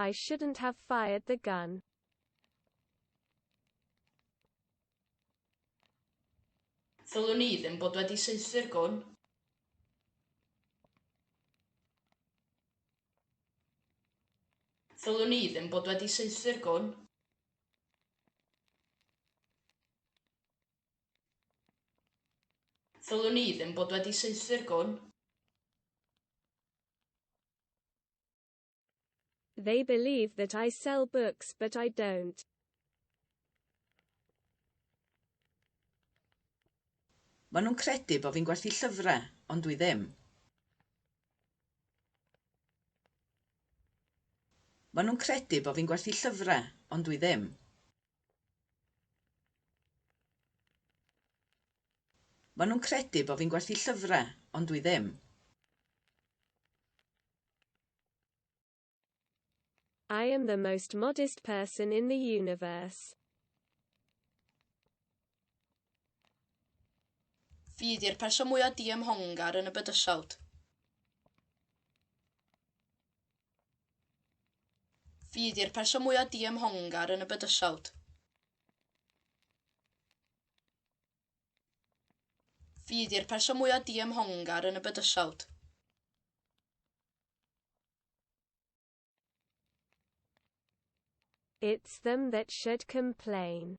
I shouldn't have fired the gun. Ddylwn i ddim bod wedi saethu'r gwn. Ddylwn i ddim bod wedi saethu'r gwn. Ddylwn ni ddim bod wedi saethu'r gwn. They believe that I sell books but I don't. Maen nhw'n credu bod fi'n gwerthu llyfrau, ond dwi ddim. Maen nhw'n credu bod fi'n gwerthu llyfrau, ond dwi ddim. Maen nhw'n credu bod fi'n gwerthu llyfrau, ond dwi ddim. I am the most modest person in the universe. Fi ydi'r person mwyaf diymhongar yn y bydysawd. Fi ydy'r person mwyaf diymhongar yn y bydysawd. Fi ydy'r person mwyaf diymhongar yn y bydysawd. It's them that should complain.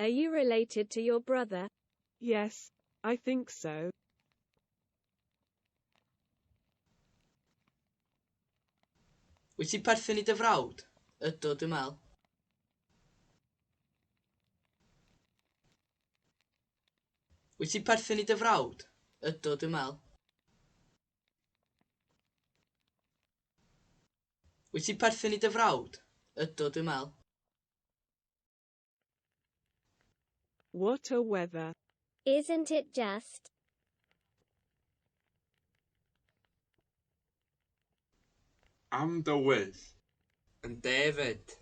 Are you related to your brother? Yes, I think so. Wyt ti'n perthyn i dy frawd? Ydw, dwi'n meddwl. Wyt ti'n perthyn i dy frawd? Ydw, dwi'n meddwl. Wyt ti'n perthyn i dy frawd? Ydw, dwi'n meddwl. What a weather! Isn't it just? Am dy wyth! Yn de 'fyd.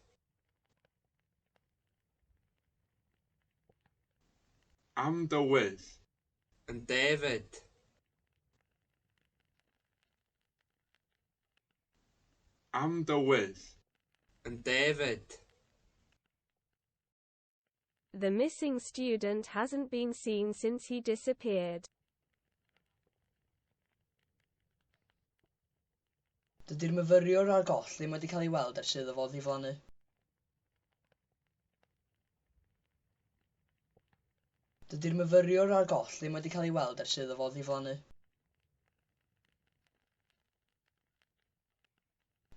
Am dy wyth! Yn de 'fyd. Am dy wyth. Yn de 'fyd. The missing student hasn't been seen since he disappeared. Dydy'r myfyriwr ar goll ddim wedi cael ei weld ers iddo fo ddiflannu. Dydy'r myfyriwr ar goll ddim wedi cael ei weld ers iddo fo ddiflannu.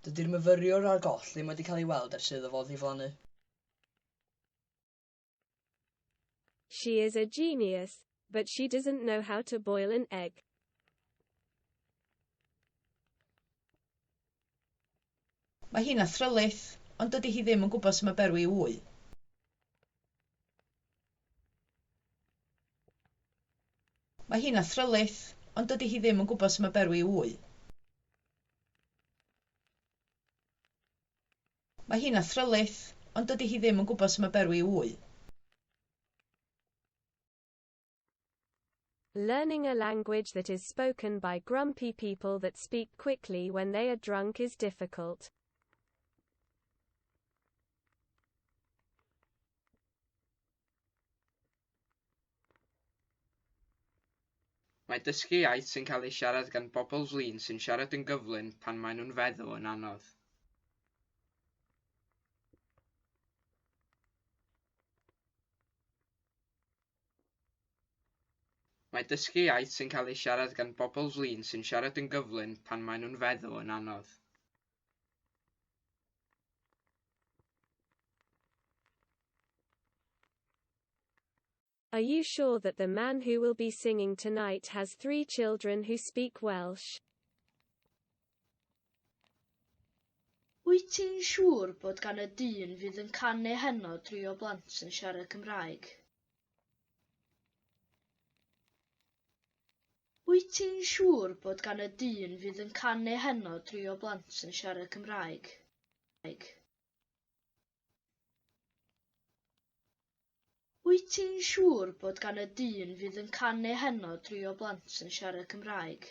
Dydy'r myfyriwr a'r goll ddim wedi cael ei weld ers iddo fo ddiflannu. She is a genius, but she doesn't know how to boil an egg. Mae hi'n athrylith, ond dydi hi ddim yn gwybod sut mae berwi i ŵy. Mae hi'n athrylith, ond dydi hi ddim yn gwybod sut mae berwi i ŵy. Mae hi'n athrylith, ond dydi hi ddim yn gwybod sut mae berwi i ŵy. Learning a language that is spoken by grumpy people that speak quickly when they are drunk is difficult. Mae dysgu iaith sy'n cael ei siarad gan bobl flin sy'n siarad yn gyflym pan maen nhw'n feddw yn anodd. Mae dysgu iaith sy'n cael ei siarad gan bobl flin sy'n siarad yn gyflym pan maen nhw'n feddw yn anodd. Are you sure that the man who will be singing tonight has three children who speak Welsh? Wyt ti'n siŵr bod gan y dyn fydd yn canu heno dri o blant yn siarad Cymraeg? Wyt ti'n siŵr bod gan y dyn fydd yn canu heno dri o blant yn siarad Cymraeg? Wyt ti'n siŵr bod gan y dyn fydd yn canu heno dri o blant yn siarad Cymraeg?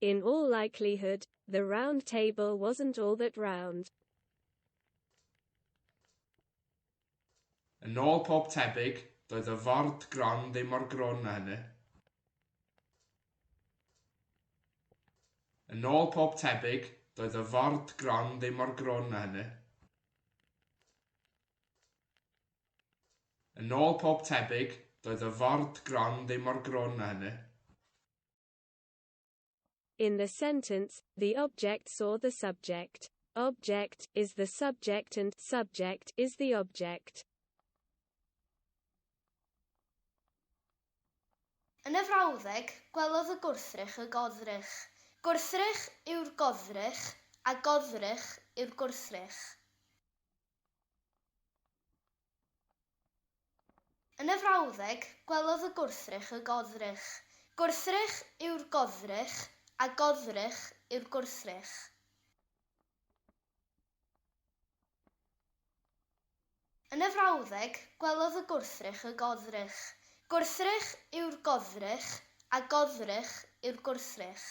In all likelihood, the round table wasn't all that round. Yn ôl pob tebyg, doedd y ford gron ddim mor grwn na hynny. Yn ôl pob tebyg, doedd y ford gron ddim mor grwn na hynny. Yn ôl pob tebyg, doedd y ford gron ddim mor grwn na hynny. In the sentence, the object saw the subject. Object is the subject and subject is the object. Yn y frawddeg, gwelodd y gwrthrych y goddrych. Gwrthrych yw'r goddrych a goddrych yw'r gwrthrych. Yn y frawddeg, gwelodd y gwrthrych y goddrych. Gwrthrych yw'r goddrych, a goddrych yw'r gwrthrych. Yn y frawddeg, gwelodd y gwrthrych y goddrych. Gwrthrych yw'r goddrych, a goddrych yw'r gwrthrych.